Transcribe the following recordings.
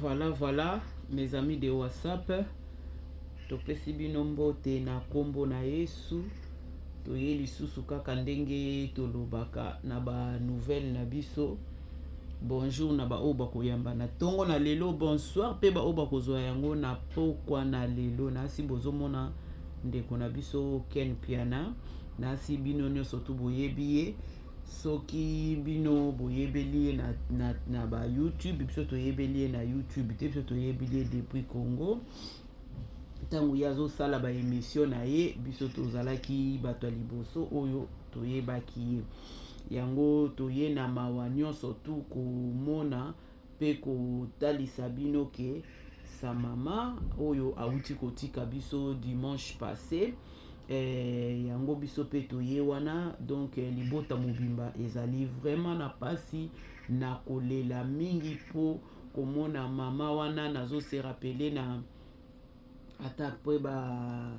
Voilà, voilà, mes amis de WhatsApp, topesi bino mbote na kombo na Yesu. Toye lisusu kaka ndenge tolobaka na ba nouvelle na biso. Bonjour na ba oyo bakoyamba na tongo na lelo, bonsoir pe ba oyo bakozwa yango na pokwa na lelo. Nasi bozomona ndeko na biso Ken Piana, nasi bino nyonso tu boyebi ye. soki bino boyebeli ye na, na, na ba youtube biso toyebeli ye na youtube te biso toyebeli ye depuis congo ntango ye azosala baemission na ye biso tozalaki bato ya liboso oyo toyebaki ye yango toye na mawa nyonso tu komona Pe kotalisa bino ke sa mama oyo awuti kotika biso dimanche passe eh, yango biso pe toye wana donc eh, libota mobimba ezali vraiment na pasi na kolela mingi po komona mama wana nazo se rappeler na ata pe ba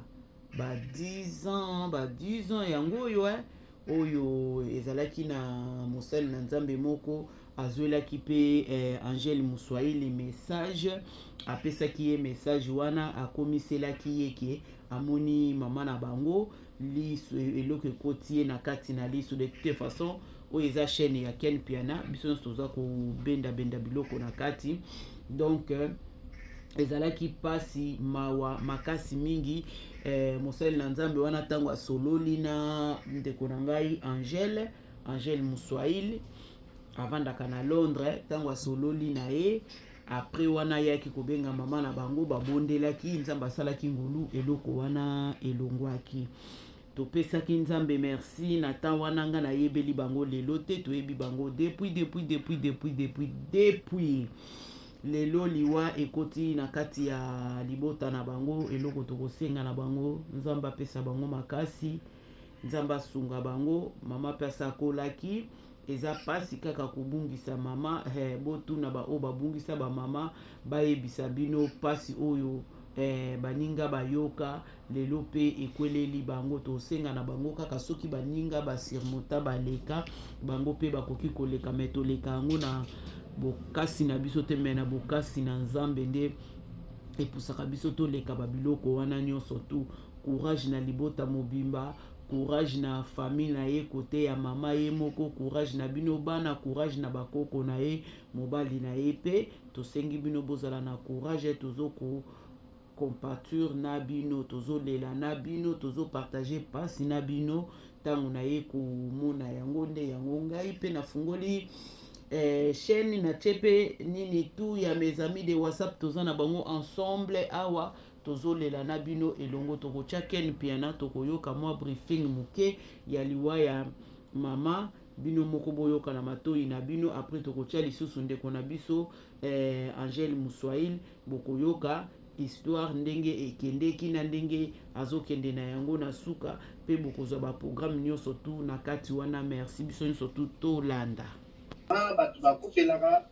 ba 10 ans ba 10 ans yango oyo eh, oyo ezalaki na mosali na nzambe moko azwelaki mpe eh, angele moswahili message apesaki ye message wana akomiselaki ye ke amoni mama na bango liso eloko ekoti ye na kati na liso de toute façon oyo eza chaîne ya Ken Piana biso nyonso toza kobenda benda biloko na kati donc euh, ezalaki mpasi mawa makasi mingi eh, mosali na nzambe wana ntango asololi na ndeko na ngai angele angele muswahili avandaka na londres ntango asololi na ye apres wana ayaki kobenga mama na bango babondelaki nzambe asalaki ngolu eloko wana elongwaki Topesaki nzambe merci na temps wana nga na yebeli bango lelo te toyebi bango depuis depuis depuis depuis depuis depuis lelo liwa ekoti na kati ya libota na bango eloko tokosenga na bango nzambe apesa bango makasi nzambe asunga bango mama mpe asakolaki eza mpasi kaka kobungisa mama eh, botuna baoyo babungisa bamama bayebisa bino mpasi oyo eh, baninga bayoka Lelo mpe ekweleli bango, tosenga na bango kaka soki baninga ba surmonta baleka, bango mpe bakoki koleka, me toleka yango na bokasi na biso te, me na bokasi na Nzambe nde epusaka biso toleka ba biloko wana nyonso tu. Courage na libota mobimba, courage na famille na ye kote ya mama ye moko, courage na bino bana, courage na bakoko na ye, mobali na ye mpe tosengi bino bozala na courage, tozo ko compature n'a bino tozo lela n'a bino tozo partager pasi n'a bino tango na ye komona yango nde yango ngai pe nafungoli eh, chaîne na chepe nini tout ya mes amis de WhatsApp toza na bango ensemble awa tozo lela n'a bino elongo toko tia Ken Mpiana toko yoka mwa briefing moke ya liwa ya mama bino moko boyoka na matoyi na bino après toko tia lisusu ndeko na biso eh, Angèle Muswail Bokoyoka histoire ndenge ekendeki na ndenge azokende na yango na suka pe bokozwa ba programme nionso tout na kati wana merci biso nionso tout tolanda. Haa batu bakufelaga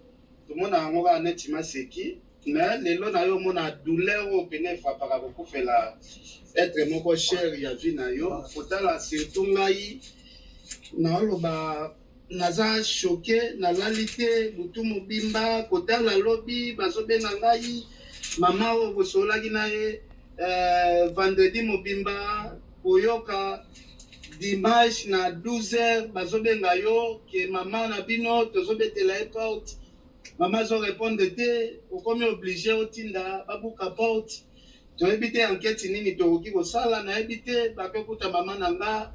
tomona yango kaka neti maseki mais lelo nayo omona douleur oyo pena efrapaka kokufela etre moko cher ya vie nayo kotala surtout ngai naoloba Naza choque na lali te butu mobimba kotala lobi bazo benga ngai mama oyo bosololaki na ye euh, vendredi mobimba koyoka dimanche na 12h bazo benga yo ke mama na bino tozo betela ye porte mama azo répondre te okomi oblige otinda babuka porte Toyebi te anketi nini tokoki kosala, nayebi te papa kuta mama na nga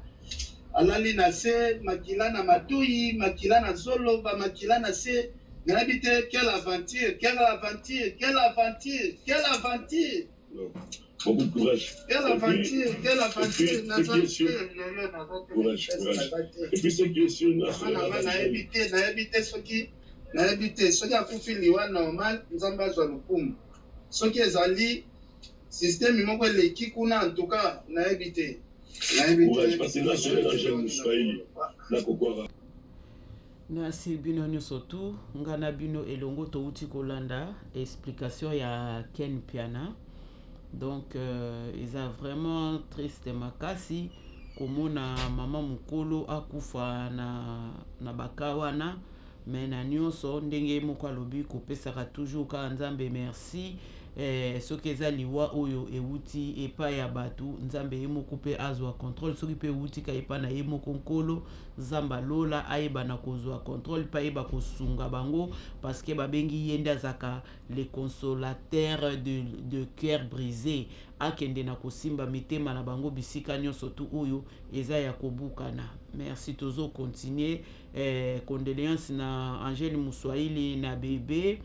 alali na se, makila na matoyi, makila na zolo, ba makila na se, nayebi te quelle aventure, quelle aventure, quelle aventure, quelle aventure. Beaucoup de courage. Quelle aventure, quelle aventure, naza te lelo naza te. Courage, courage. Et puis c'est que sur na Mama nayebi te, nayebi te soki nayebi te soki akufi liwa normal, Nzambe azwa lokumu. Soki ezali systeme moko eleki kuna en tout cas nayebi te. Courage parce que nga solo na jeune muswahili na kokwaka. Merci bino nyoso tu nga na bino elongo touti kolanda explication ya Ken Piana donc euh, eza vraiment triste makasi komona mama mokolo akufa na, na baka wana Mais na nionso ndenge ye moko alobi kopesaka toujours kaka nzambe merci eh, soki eza liwa oyo ewuti epa ya batu nzambe ye moko pe azua controle soki pe ewuti ka epa na ye moko nkolo nzamba lola ayeba na kozua controle pe ayeba kosunga bango parce que babengi ye nde azaka le consolateur de, de coeur brise akende na kosimba mitema na bango bisika nionso tu oyo eza ya kobukana merci tozo continuer Eh, condoleance na Angel Muswahili na Bebe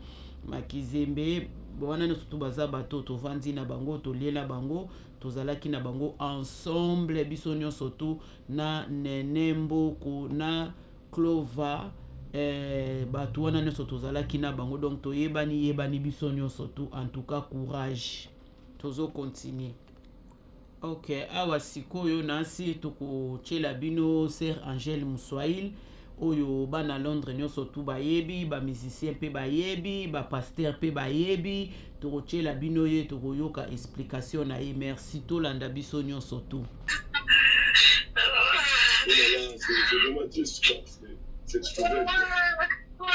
Makizembe wana nyonso tu baza bato tovandi na bango toliela bango tozalaki na bango ensemble biso nyonso tu na Nene Mboku na Clova eh, bato wana nyonso tozalaki na bango donc toyebani yebani biso nyonso tu en tout cas courage tozo continuer Ok, awa sikoyo nasi tokotyela bino ser Angèle Muswahil oyo bana Londres nyonso tu bayebi, ba musiciens mpe bayebi, ba pasteur mpe bayebi. Tokotyela bino ye, tokoyoka explication na ye. Merci, tolanda biso nyonso tu. Oh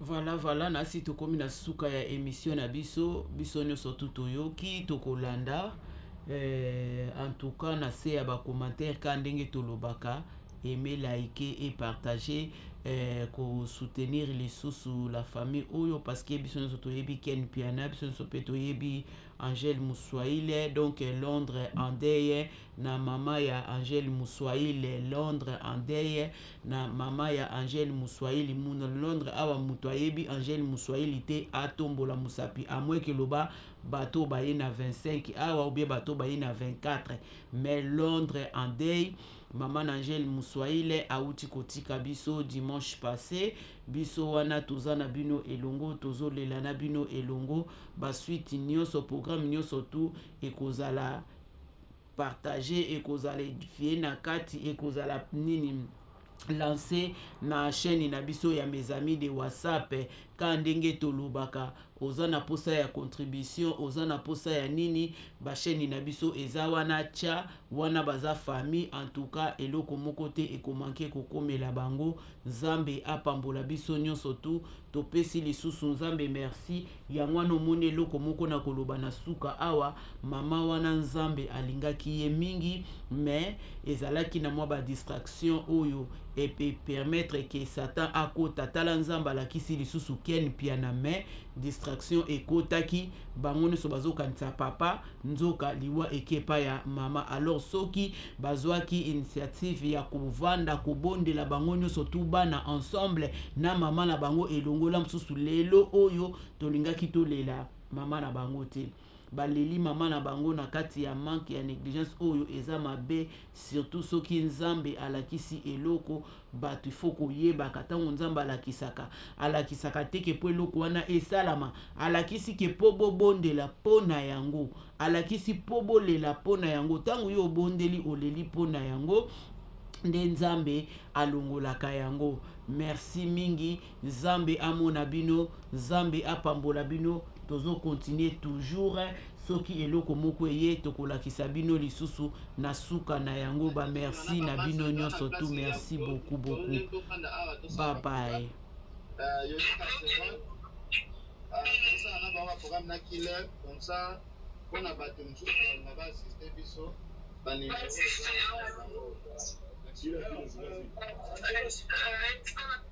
Voilà, voilà, nasi tokomi na suka ya emission na biso, biso nyonso tu toyoki, tokolanda eh, en tout cas na se ya bacommentaire ka ndenge tolobaka aime like et partager eh, kosoutenir lisusu la famille oyo parce que biso nyonso toyebi ken piana biso nyonso mpe toyebi angèle muswaile donc londres andeye na mama ya Angel Muswahili Londres Andeye na mama ya Angel Muswahili muna Londres awa mutu ayebi Angel Muswahili te atombola musapi amweke loba bato baye na 25 awa obie bato baye na 24 mais Londres Andeye mama na Angel Muswahili awuti kotika biso dimanche passé biso wana toza na bino elongo tozolela na bino elongo basuite nyonso programme nyonso tu ekozala partage ekozala edifie na kati ekozala nini lance na chaîne na biso ya mes amis de whatsapp ka ndenge tolobaka oza na posa ya contribution oza na posa ya nini bachaîne na biso eza wana tya wana baza famille en tout cas eloko moko te ekomanke kokomela bango Nzambe apambola biso nionso tu topesi lisusu nzambe merci yango wana omoni eloko moko na koloba na suka awa maman wana nzambe alingaki ye mingi mais ezalaki na mwa ba distraction oyo epe permettre ke satan akota tala nzambe alakisi lisusu ken mpiana mais distraction ekotaki bango nionso bazokanisa papa Nzoka liwa eke epai ya mama alors soki bazuaki initiative ya kovanda kobondela bango nioso tout bana ensemble na mama na bango elongo la mosusu lelo oyo tolingaki tolela mama na bango te baleli mama na bango na kati ya manque ya negligence oyo eza mabe surtout soki nzambe alakisi eloko Batu il faut koyebaka tango nzambe alakisaka alakisaka te ke po eloko wana esalama alakisi ke po bobondela po na yango alakisi po bolela po na yango tango yo obondeli oleli po na yango nde nzambe alongolaka yango merci mingi Nzambe amona bino nzambe apambola bino tozo continue toujours soki eloko moko eye tokolakisa bino lisusu na suka na yango ba merci na bino nyonso tu merci beaucoup beaucoup bye bye tosala na bango baprogramme na killer comme ça mpo na bato mosusu balinga baasiste biso baninga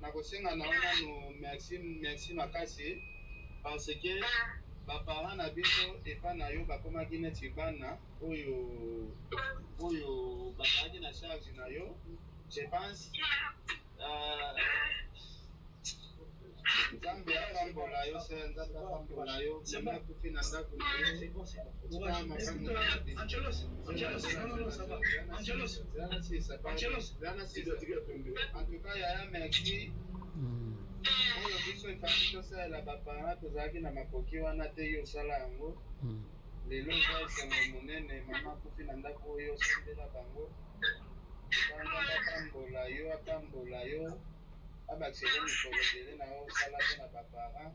Nakosenga na yo nanu merci merci makasi parce que ba parents na biso epa na yo bakomaki neti bana oyo oyo bazalaki na charge na yo je pense Nzambe apambola yo soeur Nzambe apambola yo oyo biso efandi tosalela baparent tozalaki na makoki wana te yo osala yango hmm. lelo eza esengo monene mama akufi na ndako oyo osambela bango banga batambola yo atambola yo abakisele mikolo ebele na yo osala mpe na baparent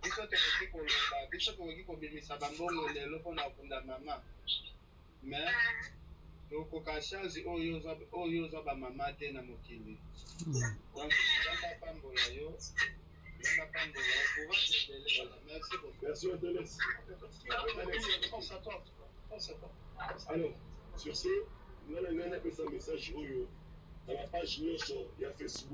biso tokoki koloba biso tokoki kobimisa bambongo lelo mpo na kunda mama me tokoka charge oyo oyo oza bamama te na mokili donc nzambe apambola yo nzambe apambola yo courage ebele merci beaucoup merci oteles alors sur ce ngai na ngai napesa message oyo na bapage nyonso ya facebook